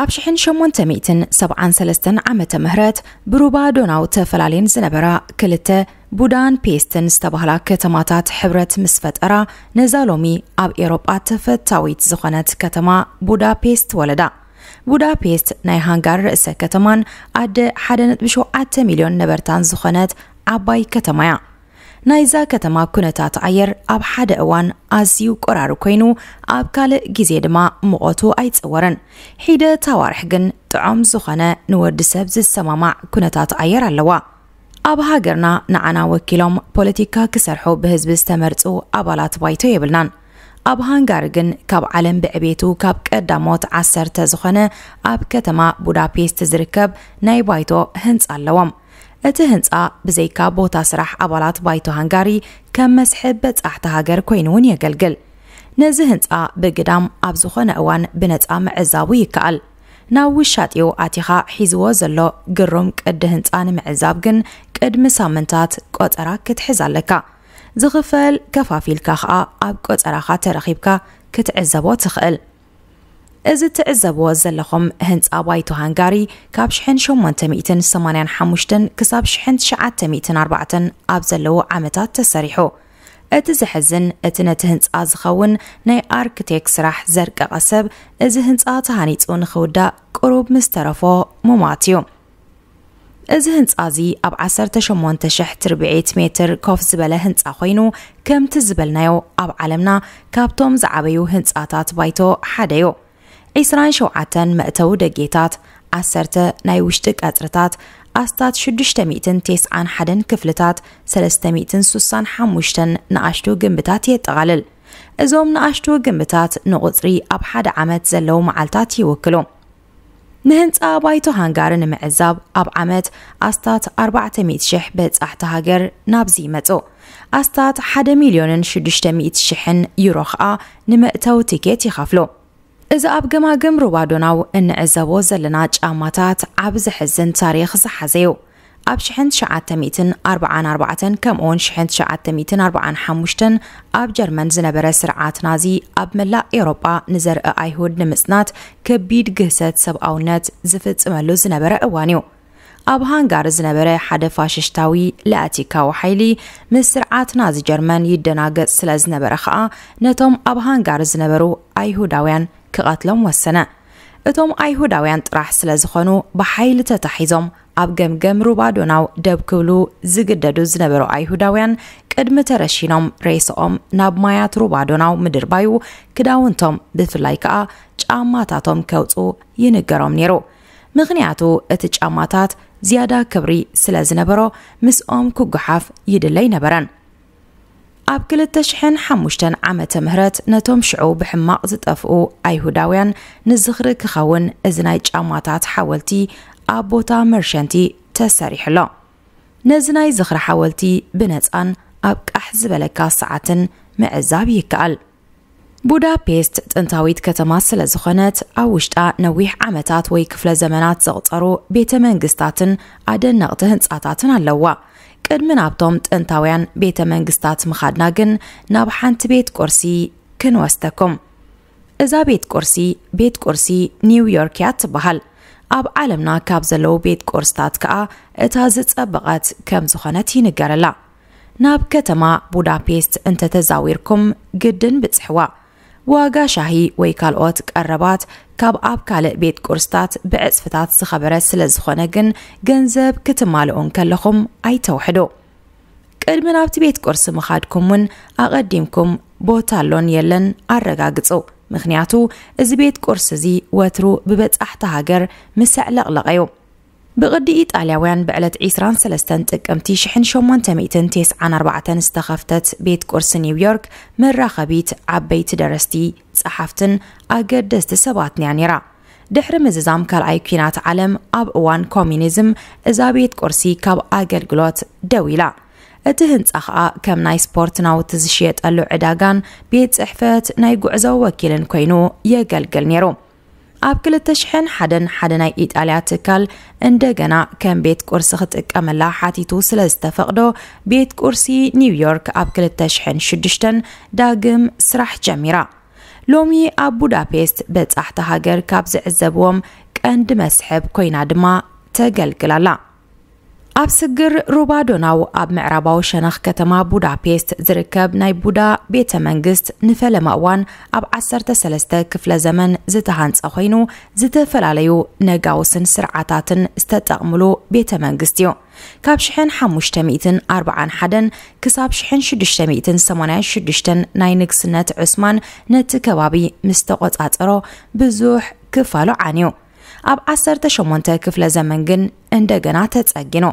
ኣብ ሽሕን ሸሞንተ ሚእትን ሰብዓን ሰለስተን ዓመተ ምህረት ብሩባ ዶናው ተፈላልየን ዝነበራ ክልተ ቡዳን ፔስትን ዝተባህላ ከተማታት ሕብረት ምስ ፈጠራ ነዛ ሎሚ ኣብ ኤሮጳ ተፈታዊት ዝኾነት ከተማ ቡዳፔስት ወለዳ። ቡዳፔስት ናይ ሃንጋሪ ርእሰ ከተማን ኣደ 1.7 ሚልዮን ነበርታን ዝኾነት ዓባይ ከተማ እያ። ናይዛ ከተማ ኩነታት ኣየር ኣብ ሓደ እዋን ኣዝዩ ቆራሪ ኮይኑ ኣብ ካልእ ግዜ ድማ ሙቐቱ ኣይጸወርን። ሒደት ኣዋርሕ ግን ጥዖም ዝኾነ ንወዲ ሰብ ዝሰማማዕ ኩነታት ኣየር ኣለዋ። ኣብ ሃገርና ንዓና ወኪሎም ፖለቲካ ክሰርሑ ብህዝቢ ዝተመርጹ ኣባላት ባይቶ የብልናን። ኣብ ሃንጋሪ ግን ካብ ዓለም ብዕቤቱ ካብ ቀዳሞት ዓሰርተ ዝኾነ ኣብ ከተማ ቡዳፔስት ዝርከብ ናይ ባይቶ ህንጻ ኣለዎም። እቲ ህንጻ ብዘይካ ቦታ ስራሕ ኣባላት ባይቶ ሃንጋሪ ከም መስሕብ በጻሕቲ ሃገር ኮይኑ እውን የገልግል። ነዚ ህንጻ ብግዳም ኣብ ዝኾነ እዋን ብነጻ ምዕዛቡ ይከኣል። ናብ ውሻጢኡ ኣቲኻ ሒዝዎ ዘሎ ግሩም ቅዲ ህንጻ ንምዕዛብ ግን ቅድሚ ሳምንታት ቆጸራ ክትሕዝ ኣለካ። ዝኽፈል ከፋፊልካ ከኣ ኣብ ቆጸራኻ ተረኺብካ ክትዕዘቦ ትኽእል። እዚ ትዕዘብዎ ዘለኹም ህንጻ ባይቶ ሃንጋሪ ካብ ሽሕን ሸሞንተ ሚእትን ሰማንያን ሓሙሽተን ክሳብ ሽሕን ትሽዓተ ሚእትን ኣርባዕተን ኣብ ዘለዉ ዓመታት ተሰሪሑ። እቲ ዘሕዝን እቲ ነቲ ህንጻ ዝኸውን ናይ ኣርክቴክ ስራሕ ዘርቀቐ ሰብ እዚ ህንጻ ተሃኒጹ ንኽውዳእ ቅሩብ ምስ ተረፎ ሙማት እዩ። እዚ ህንጻ እዚ ኣብ ዓሰርተ ሸሞንተ ሽሕ ትርብዒት ሜትር ኮፍ ዝበለ ህንጻ ኮይኑ ከምቲ ዝበልናዮ ኣብ ዓለምና ካብቶም ዝዓበዩ ህንጻታት ባይቶ ሓደ እዩ። ዒስራን ሸውዓተን መእተዊ ደጌታት፣ ዓሰርተ ናይ ውሽጢ ቀጽርታት፣ ኣስታት ሽዱሽተ ሚእትን ቴስዓን ሓደን ክፍልታት፣ ሰለስተ ሚእትን ሱሳን ሓሙሽተን ንኣሽቱ ግምብታት የጠቓልል። እዞም ንኣሽቱ ግምብታት ንቑጽሪ ኣብ ሓደ ዓመት ዘለዉ መዓልታት ይውክሉ። ንህንጻ ባይቶ ሃንጋሪ ንምዕዛብ ኣብ ዓመት ኣስታት ኣርባዕተ ሚእቲ ሽሕ በጻሕቲ ሃገር ናብዚ ይመጹ። ኣስታት ሓደ ሚልዮንን ሽዱሽተ ሚእቲ ሽሕን ዩሮ ኸኣ ንመእተዊ ቲኬት ይኸፍሉ። እዚ ኣብ ገማግም ሩባ ዶናው እንዕዘቦ ዘለና ጫማታት ዓቢ ዘሕዝን ታሪኽ ዝሓዘ'ዩ። ኣብ ሽሕን ትሽዓተ ሚእትን ኣርብዓን ኣርባዕተን ከምኡውን ሽሕን ትሽዓተ ሚእትን ኣርብዓን ሓሙሽተን ኣብ ጀርመን ዝነበረ ስርዓት ናዚ ኣብ መላእ ኤውሮጳ ንዘርኢ ኣይሁድ ንምጽናት ከቢድ ግህሰት ሰብኣውነት ዝፍጽመሉ ዝነበረ እዋን እዩ። ኣብ ሃንጋሪ ዝነበረ ሓደ ፋሽሽታዊ ላቲካዊ ሓይሊ ምስ ስርዓት ናዚ ጀርመን ይደናገጽ ስለ ዝነበረ ኸኣ ነቶም ኣብ ሃንጋሪ ዝነበሩ ኣይሁዳውያን ክቐትሎም ወሰነ። እቶም ኣይሁዳውያን ጥራሕ ስለ ዝኾኑ ብሓይሊ ተታሒዞም ኣብ ገምገም ሩባ ዶናው ደብ ክብሉ ዝግደዱ ዝነበሩ ኣይሁዳውያን ቅድሚ ተረሺኖም ሬስኦም ናብ ማያት ሩባ ዶናው ምድርባዩ ክዳውንቶም ብፍላይ ከኣ ጫማታቶም ከውፁ ይንገሮም ነይሩ ምኽንያቱ እቲ ጫማታት ዝያዳ ክብሪ ስለ ዝነበሮ ምስኦም ክጓሓፍ ይድለይ ነበረን ኣብ ክልተ ሽሕን ሓሙሽተን ዓመተ ምህረት ነቶም ሽዑ ብሕማቕ ዝጠፍኡ ኣይሁዳውያን ንዝኽሪ ክኸውን እዚ ናይ ጫማታት ሓወልቲ ኣብ ቦታ መርሸንቲ ተሰሪሑ ኣሎ ነዚ ናይ ዝኽሪ ሓወልቲ ብነፃን ኣብ ቃሕ ዝበለካ ሰዓትን ምዕዛብ ይከኣል ቡዳፔስት ጥንታዊት ከተማ ስለ ዝኾነት ኣብ ውሽጣ ነዊሕ ዓመታት ወይ ክፍለ ዘመናት ዘቕጸሩ ቤተ መንግስታትን ኣደነቕቲ ህንጻታትን ኣለዋ። ቅድሚ ናብቶም ጥንታውያን ቤተ መንግስታት ምኻድና ግን ናብ ሓንቲ ቤት ቁርሲ ክንወስደኩም። እዛ ቤት ቁርሲ ቤት ቁርሲ ኒውዮርክ እያ ትበሃል። ኣብ ዓለምና ካብ ዘለዉ ቤት ቁርስታት ከኣ እታ ዝጸበቐት ከም ዝኾነት ይንገረላ። ናብ ከተማ ቡዳፔስት እንተ ተዛዊርኩም ግድን ብጽሕዋ። ዋጋ ሻሂ ወይ ካልኦት ቀረባት ካብ ኣብ ካልእ ቤት ቁርስታት ብዕጽፍታት ዝኸበረ ስለ ዝኾነ ግን ገንዘብ ክትማልኡ እንከለኹም ኣይተውሕዱ። ቅድሚ ናብቲ ቤት ቁርሲ ምኻድኩም እውን ኣቐዲምኩም ቦታ ኣሎን የለን ኣረጋግጹ፣ ምኽንያቱ እዚ ቤት ቁርሲ እዚ ወትሩ ብበጻሕቲ ሃገር ምሰዕለቕለቐ እዩ። ብቕዲ ኢጣልያውያን ብዕለት ዕስራን ሰለስተን ጥቅምቲ ሽሕን ሸሞንተ ሚእትን ቴስዓን ኣርባዕተን ዝተኸፍተት ቤት ቁርሲ ኒውዮርክ መራኸቢት ዓበይቲ ደረስቲ፣ ጸሓፍትን ኣገደስቲ ሰባትን'ያ ነይራ። ድሕሪ ምዝዛም ካልኣይ ኲናት ዓለም ኣብ እዋን ኮሚኒዝም እዛ ቤት ቁርሲ ካብ ኣገልግሎት ደው ኢላ። እቲ ህንጻ ኸኣ ከም ናይ ስፖርት ናውቲ ዝሽየጠሉ ዕዳጋን ቤት ጽሕፈት ናይ ጉዕዞ ወኪልን ኰይኑ የገልግል ነይሩ። ኣብ 2001 ሓደ ናይ ኢጣልያ ትካል እንደገና ከም ቤት ቁርሲ ክጥቀመላ ሓቲቱ ስለ ዝተፈቕዶ ቤት ቁርሲ ኒውዮርክ ኣብ 2006 ዳግም ስራሕ ጀሚራ። ሎሚ ኣብ ቡዳፔስት በጻሕቲ ሃገር ካብ ዝዕዘብዎም ቀንዲ መስሕብ ኮይና ድማ ተገልግላላ። ኣብ ስግር ሩባ ዶናው ኣብ ምዕራባዊ ሸነኽ ከተማ ቡዳፔስት ዝርከብ ናይ ቡዳ ቤተ መንግስት ንፈለማ እዋን ኣብ 13 ክፍለ ዘመን ዝተሃንጸ ኮይኑ ዝተፈላለዩ ነጋውስን ስርዓታትን ዝተጠቕምሉ ቤተ መንግስት እዩ። ካብ ሽሕን ሓሙሽተ ሚእትን ኣርብዓን ሓደን ክሳብ ሽሕን ሽዱሽተ ሚእትን ሰማንያን ሽዱሽተን ናይ ንግስነት ዑስማን ነቲ ከባቢ ምስ ተቖጻጸሮ ብዙሕ ክፋሉ ዓንዩ። ኣብ ዓሰርተ ሸሞንተ ክፍለ ዘመን ግን እንደገና ተጸጊኑ።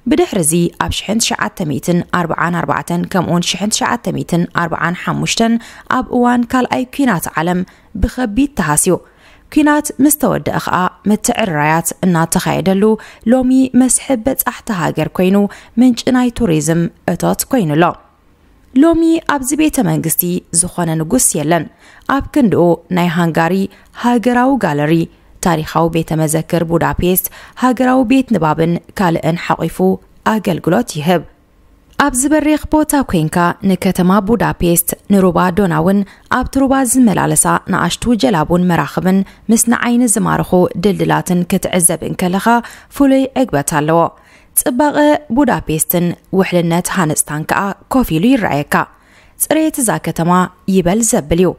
ብድሕሪ እዚ ኣብ ሽሕን ትሽዓተ ሚእትን ኣርብዓን ኣርባዕተን ከምኡውን ሽሕን ትሽዓተ ሚእትን ኣርብዓን ሓሙሽተን ኣብ እዋን ካልኣይ ኲናት ዓለም ብኸቢድ ተሃስዩ። ኲናት ምስ ተወደኣ ኸኣ ምትዕርራያት እናተኻየደሉ ሎሚ መስሕብ በጻሕቲ ሃገር ኰይኑ ምንጪ ናይ ቱሪዝም እቶት ኰይኑ ኣሎ። ሎሚ ኣብዚ ቤተ መንግስቲ ዝኾነ ንጉስ የለን። ኣብ ክንድኡ ናይ ሃንጋሪ ሃገራዊ ጋለሪ፣ ታሪኻዊ ቤተ መዘክር ቡዳፔስት፣ ሃገራዊ ቤት ንባብን ካልእን ሓቚፉ ኣገልግሎት ይህብ። ኣብዚ በሪኽ ቦታ ኮንካ ንከተማ ቡዳፔስት፣ ንሩባ ዶናውን ኣብቲ ሩባ ዝመላለሳ ንኣሽቱ ጀላቡን መራኽብን ምስ ንዓይኒ ዝማርኹ ድልድላትን ክትዕዘብ እንከለኻ ፍሉይ ዕግበት ኣለዎ። ጽባቐ ቡዳፔስትን ውሕልነት ሃነጽታን ከኣ ኮፍ ኢሉ ይረኣየካ። ጽሬት እዛ ከተማ ይበል ዘብል እዩ።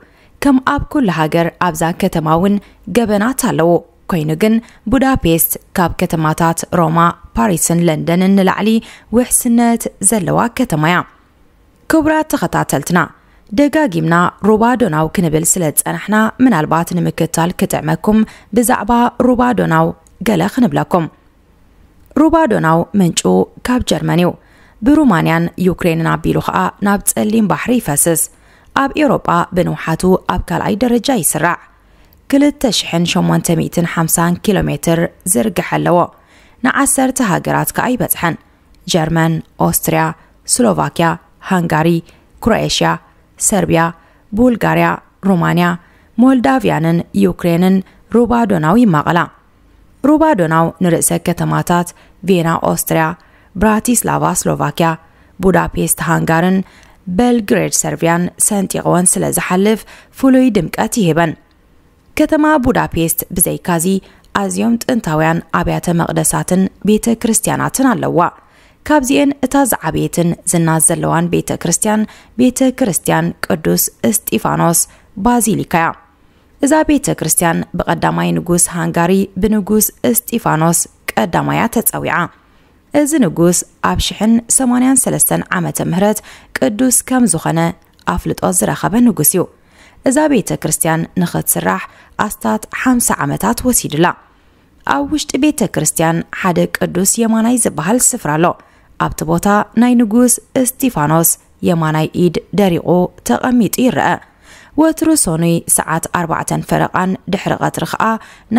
ከም ኣብ ኩሉ ሃገር ኣብዛ ከተማ እውን ገበናት ኣለዉ። ኮይኑ ግን ቡዳፔስት ካብ ከተማታት ሮማ፣ ፓሪስን ለንደንን ንላዕሊ ውሕስነት ዘለዋ ከተማ እያ። ክቡራት ተኸታተልትና ደጋጊምና ሩባ ዶናው ክንብል ስለ ዝጸናሕና ምናልባት ንምክታል ክጥዕመኩም ብዛዕባ ሩባ ዶናው ገለ ክንብለኩም። ሩባ ዶናው ምንጩ ካብ ጀርመን እዩ ብሩማንያን ዩክሬንን ኣቢሉ ኸኣ ናብ ጸሊም ባሕሪ ይፈስስ ኣብ ኤውሮጳ ብንውሓቱ ኣብ ካልኣይ ደረጃ ይስራዕ 2850 ኪሎ ሜትር ዝርግሐ ኣለዎ ንዓሰርተ ሃገራት ከኣ ይበጽሐን ጀርመን ኦስትርያ ስሎቫክያ ሃንጋሪ ክሮኤሽያ ሰርቢያ ቡልጋርያ ሩማንያ ሞልዳቭያንን ዩክሬንን ሩባ ዶናው ይማቐላ ሩባ ዶናው ንርእሰ ከተማታት ቬና ኦስትርያ፣ ብራቲስላቫ ስሎቫክያ፣ ቡዳፔስት ሃንጋርን በልግሬድ ሰርብያን ሰንጢቕወን ስለ ዝሓልፍ ፍሉይ ድምቀት ይህበን። ከተማ ቡዳፔስት ብዘይካዚ ኣዝዮም ጥንታውያን ኣብያተ መቕደሳትን ቤተ ክርስቲያናትን ኣለዋ። ካብዚኤን እታ ዝዓበየትን ዝና ዘለዋን ቤተ ክርስቲያን ቤተ ክርስቲያን ቅዱስ እስጢፋኖስ ባዚሊካ እያ። እዛ ቤተ ክርስቲያን ብቐዳማይ ንጉስ ሃንጋሪ ብንጉስ እስጢፋኖስ ቀዳማይ እያ ተጸዊዓ። እዚ ንጉስ ኣብ ሽሕን ሰማንያን ሰለስተን ዓመተ ምህረት ቅዱስ ከም ዝኾነ ኣፍልጦ ዝረኸበ ንጉስ እዩ። እዛ ቤተ ክርስቲያን ንኽትስራሕ ኣስታት ሓምሳ ዓመታት ወሲዱላ። ኣብ ውሽጢ ቤተ ክርስቲያን ሓደ ቅዱስ የማናይ ዝበሃል ስፍራ ኣሎ። ኣብቲ ቦታ ናይ ንጉስ እስጢፋኖስ የማናይ ኢድ ደሪቑ ተቐሚጡ ይረአ። ወትሩ ሰኑይ ሰዓት ኣርባዕተን ፈረቓን ድሕሪ ቐትሪ ኸኣ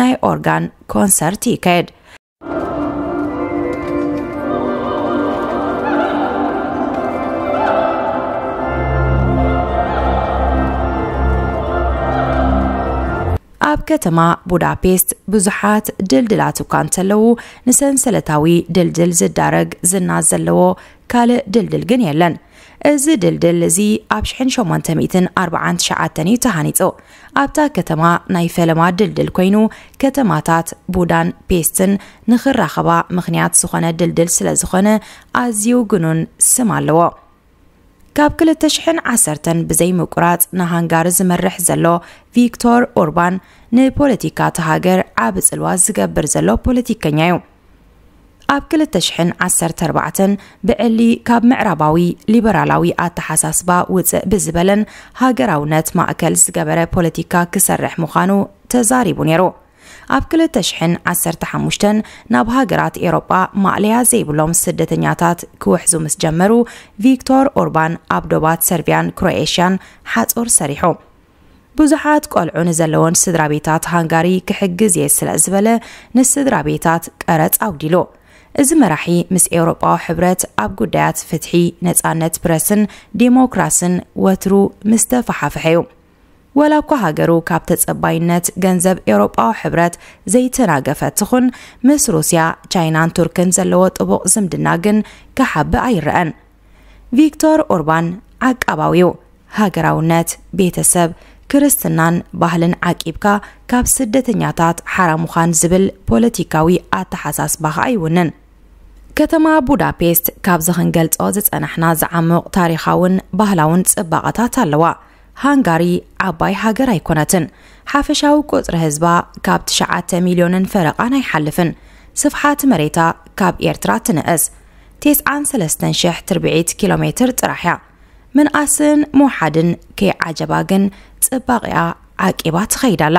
ናይ ኦርጋን ኮንሰርት ይካየድ። ኣብ ከተማ ቡዳፔስት ብዙሓት ድልድላት እኳ እንተለዉ ንሰንሰለታዊ ድልድል ዝዳረግ ዝና ዘለዎ ካልእ ድልድል ግን የለን። እዚ ድልድል እዚ ኣብ ሽሕን ሸሞንተ ሚእትን ኣርብዓን ትሽዓተን እዩ ተሃኒጹ። ኣብታ ከተማ ናይ ፈለማ ድልድል ኮይኑ ከተማታት ቡዳን ፔስትን ንኽራኸባ ምኽንያት ዝኾነ ድልድል ስለ ዝኾነ ኣዝዩ ግኑን ስም ኣለዎ። ካብ ክልተ ሽሕን ዓሰርተን ብዘይምቁራጽ ንሃንጋሪ ዝመርሕ ዘሎ ቪክቶር ኦርባን ንፖለቲካ እቲ ሃገር ዓብ ጽልዋ ዝገብር ዘሎ ፖለቲከኛ እዩ። ኣብ ክልተ ሽሕን ዓሰርተ ኣርባዕተን ብዕሊ ካብ ምዕራባዊ ሊበራላዊ ኣተሓሳስባ ውፅእ ብዝበለን ሃገራውነት ማእከል ዝገበረ ፖለቲካ ክሰርሕ ምዃኑ ተዛሪቡ ነይሩ። ኣብ ክልተ ሽሕን ዓሰርተ ሓሙሽተን ናብ ሃገራት ኤሮጳ ማእለያ ዘይብሎም ስደተኛታት ክውሕዙ ምስ ጀመሩ ቪክቶር ኦርባን ኣብ ዶባት ሰርቢያን ክሮኤሽያን ሓጹር ሰሪሑ ብዙሓት ቆልዑ ንዘለዎን ስድራ ቤታት ሃንጋሪ ክሕግዝ እየ ስለ ዝበለ ንስድራ ቤታት ቀረጽ ኣውዲሉ እዚ መራሒ ምስ ኤውሮጳዊ ሕብረት ኣብ ጉዳያት ፍትሒ ነጻነት ፕረስን ዴሞክራስን ወትሩ ምስ ተፈሓፍሐ እዩ ወላ እኳ ሃገሩ ካብ ተጸባይነት ገንዘብ ኤውሮጳዊ ሕብረት ዘይተናገፈት ትኹን፣ ምስ ሩስያ፣ ቻይናን ቱርክን ዘለዎ ጥቡቕ ዝምድና ግን ክሓብእ ኣይረኣን። ቪክቶር ኦርባን ዓቃባዊ'ዩ። ሃገራውነት፣ ቤተሰብ፣ ክርስትናን ባህልን ዓቂብካ ካብ ስደተኛታት ሓራ ምዃን ዝብል ፖለቲካዊ ኣተሓሳስባ ከኣ ይውንን። ከተማ ቡዳፔስት ካብዚ ክንገልጾ ዝጸናሕና ዝዓሙቕ ታሪኻውን ባህላውን ጽባቐታት ኣለዋ። ሃንጋሪ ዓባይ ሃገር ኣይኮነትን። ሓፈሻዊ ቁጽሪ ህዝባ ካብ ትሽዓተ ሚልዮንን ፈረቓን ኣይሓልፍን። ስፍሓት መሬታ ካብ ኤርትራ ትንእስ ቴስዓን ሰለስተን ሽሕ ትርብዒት ኪሎ ሜትር ጥራሕ እያ። ምንኣስን ምውሓድን ከይዓጀባ ግን ጽባቒኣ ዓቂባ ትኸይድ ኣላ።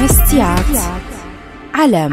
መስትያት ዓለም